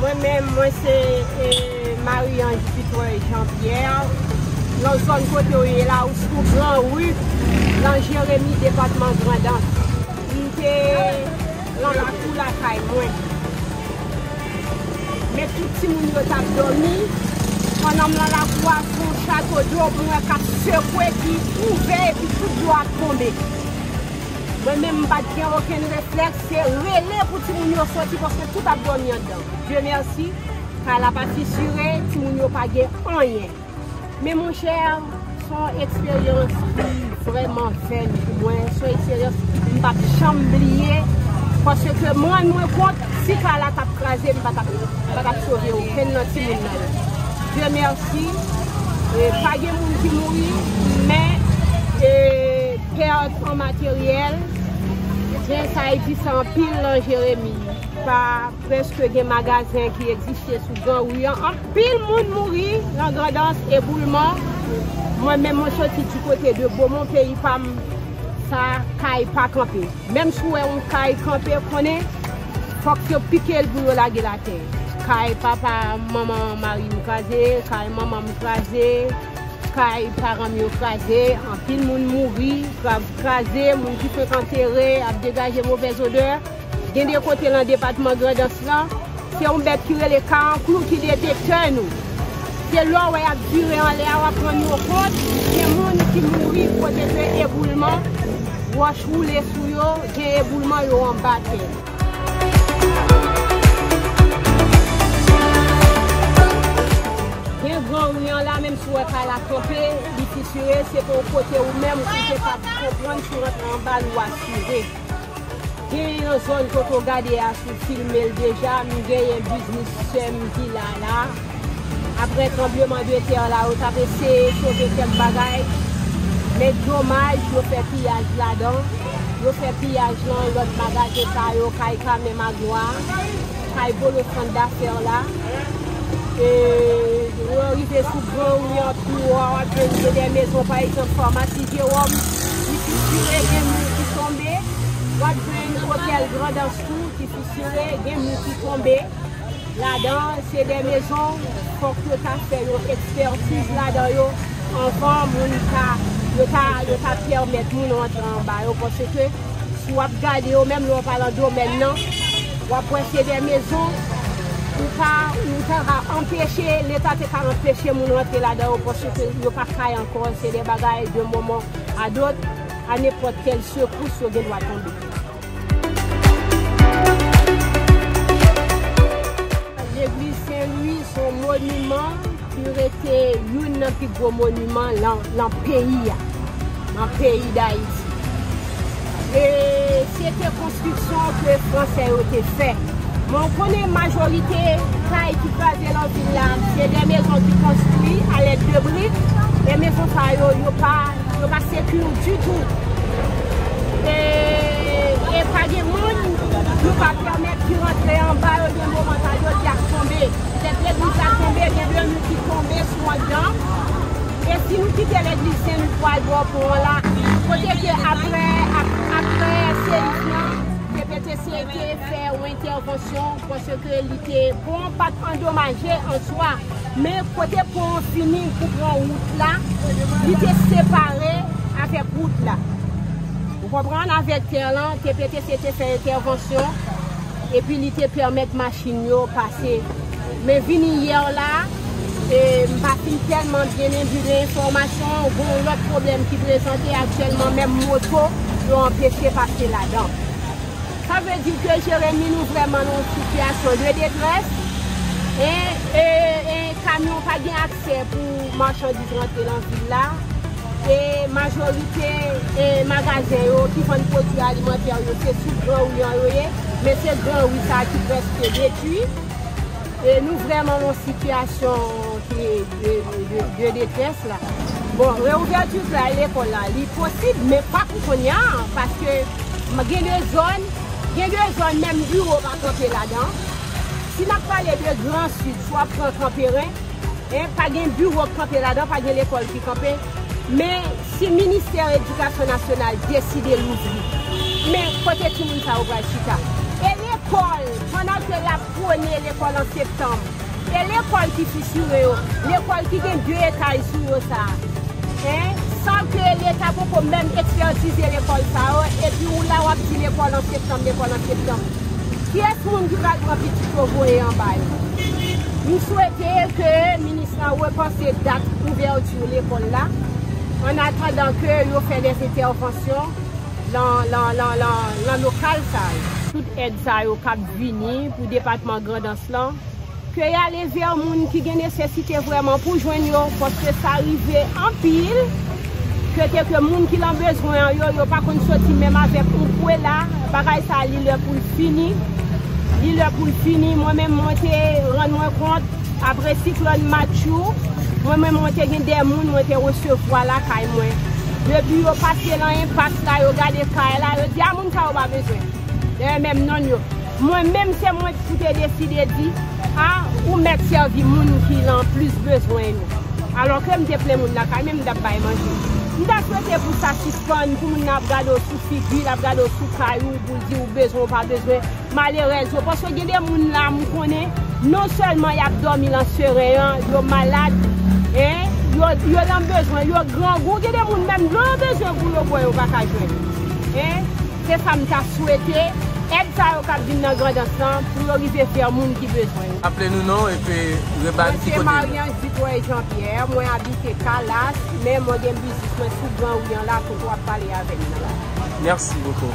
Mwen menm mwen se Marie Ange Dutoit Jean Pierre nan zòn kote ou ye la ou sou gran ru nan Jeremie depatman Grandans m te nan lakou lakay mwen men tout timoun yo tap dòmi pandan m nan lakou a son chato dlo mwen wè kap sekwe ki ouvè epi tout dlo a ap tonbe. Mwen menm m pat gen okenn reflèks se rele pou timoun yo soti paske tout ap dòmi anndan. Dieu merci kay la pa fisure, timoun yo pa gen anyen. Men monchè son eksperyans ki vrèman fèn pou mwen, son eksperyans m pap janm bliye paske ke m rann mwen kont si kay la tap kraze m pa tap sove okenn nan timoun nan yo. Dieu merci pa gen moun ki mouri men. Pèt an materyèl, zen sa e di sa anpil nan Jeremi. Pa prèske gen magazen ki egziste sou gran ri an. Anpil moun mouri nan Grandans, eboulman. Mwen menm mwen soti di kote de Bomon peyi pa m, sa kay pa kanpe. Menm si w wè yon kay kanpe, konnen fòk yo pike l pou yo lage l atè. Kay papa manman mari m kraze, kay manman m kraze. Kay paran m yo kraze, anpil moun mouri, kav kraze, moun ki fenk antere ap degaje movèz odè. Gen de kote lan depatman Grandans lan, se yon bèt ki rele karanklou ki detektè nou. Se lè w wè y ap vire anlè a w ap rann ou kont gen moun ki mouri kote ke eboulman wòch woule sou yo, gen eboulman yo anba tè. Gen gran ri an la menm si w wè kay la kanpe, li fisire, se pou w kote ou menm ou te ka konprann si w rantre anba l ou asire. Genyen yon zòn kote w gade a si w filme l deja, m genyen biznis sè m vila la. Aprè tranbleman de tè la yo tap eseye sove kèk bagay men domaj yo fè piyaj ladan, yo fè piyaj lan lòt magazen sa yo kay Carmen Magloire, kay Bolo sant dafè la e lè w rive sou gran ri an pi wo a wap jwenn gen de mezon pa egzanp famasi Jewòm ki fisire gen mi ki tonbe, wap jwenn otèl Grandans tou ki fisire gen mi ki tonbe. ladan se de mezon fòk yo ta fè yon ekspertiz ladan yo anvan moun ka yo ta yo ta pèmèt moun rantre anba yo paske si w ap gade yo menm lè w pa lan domèn nan w ap wè se de mezon ou pa ou ta ka anpeche leta te ka anpeche moun rantre ladan yo paske yo pa kay ankò se de bagay de moman a dot a nenpòt kèl sekous yo gen dwa tonbe. Legliz Sen Lwi se yon moniman ki rete youn nan pi gwo moniman nan peyi a, nan peyi Dayiti. E se te konstriksyon ke Fransè yo te fè. Men ou konnen majorite kay ki kraze nan vil la, se de mezon ki konstri alèd de brik, e mezon sa yo, yo pa. Yo pa secure du tout. E pa gen moun nou pa permet ki rantre anba yo gen moman sa yo di ap tonbe. Petèt legliz la tonbe gen de nou ki tonbe sou anndan. E si nou kite legliz sen nou pwal bò pon an la. Kote ke apre apre seyik lan PPTC te fè yon entèvansyon paske li te pon an pat andomaje an swa. Men, kote pon an fini pou pran wout la, li te separe avèk wout la. Ou konprann? Avèk tè lan, TPTC te fè entèvansyon, epi li te pèmèt machin yo pase. Men vini yè la, e m pa fin tèlman byen enbi de enfòmasyon an, gen yon lòt pwoblèm ki prezante aktyèlman, menm moto yo anpeche pase ladan. Sa vle di ke Jeremi nou vrèman nan yon sitiyasyon de detrès e kamyon pa gen aksè pou machandiz rantre nan vil la e majorite magazen yo ki vann pwodui alimantè yo se sou gran ri an yo ye men se gran ri sa ki prèske detui e nou vrèman nan yon sitiyasyon ki 2 tès la. Bon reouvèti fè al lekòl la li posib men pa pou kounya paske gen 2 zòn, gen 2 zòn menm biwo pa kanpe ladan. Si nap pale de gran sid swa pran kanperen pa gen biwo k kanpe ladan pa gen lekòl ki kanpe men si ministè edikasyon nasyonal deside louvri men kote timoun sa yo pral chita? E lekòl pandan ke yap pwone lekòl an septanm? Se lekòl ki fisure yo, lekòl ki gen 2 etaj sou yo sa a. Hein? San ke leta poko menm ekpètize lekòl sa yo, epi ou la wap di lekòl an septanm, lekòl an septanm. Kiyès moun ki pral pran pitit yo voye anba yo? M swete ke minis la repanse dat ouverture lekòl la, an atandan ke yo fè des interventions lan, lan, lan, lan, lan lokal sa yo. Tout èd sa yo kap vini pou depatman Grandans Lis lan, Ke y ale vè moun ki gen nesesite vrèman pou jwenn yo, paske sa rive anpil ke te ke moun ki lan bezwen an yo, yo pa konn soti menm avèk yon pwela, bagay sa a li lè pou l fini, li lè pou l fini, mwen menm mwen te rann mwen kont apre siklòn Matthew, mwen menm mwen te gen de moun mwen te resevwa lakay mwen, depi yo pase lan enpas la yo gade kay la, yo di a moun sa yo pa bezwen, dayè menm nonn yo. Mwen menm se mwen k pou te deside di, a ou mèt sèvi moun ki lan plis bezwen yo. Alò ke m te plen moun lakay men m t ap bay manje. M ta swete pou sa sispann, pou moun nan ap gade w sou figi, l ap gade w sou kay ou pou l di ou bezwen ou pa bezwen. Malerèz yo, paske gen de moun la m konnen non sèlman y ap dòmi lan seren an, yo malad, en, yo, yo lan bezwen, yo grangou, gen de moun menm dlo yo bezwen pou yo bwè yo pa ka jwenn. En. Se sa m ta swete, èd sa yo kap vin nan Grandans lan pou yo rive vè moun ki bezwen yo. Aple nou non e pe reba n ki kote nou. Mwen se Mariange Dutoit Jean Pierre, mwen abite Calas, men mwen gen biznis mwen sou gran ri an la kote wap pale avè m nan la. Merci beaucoup.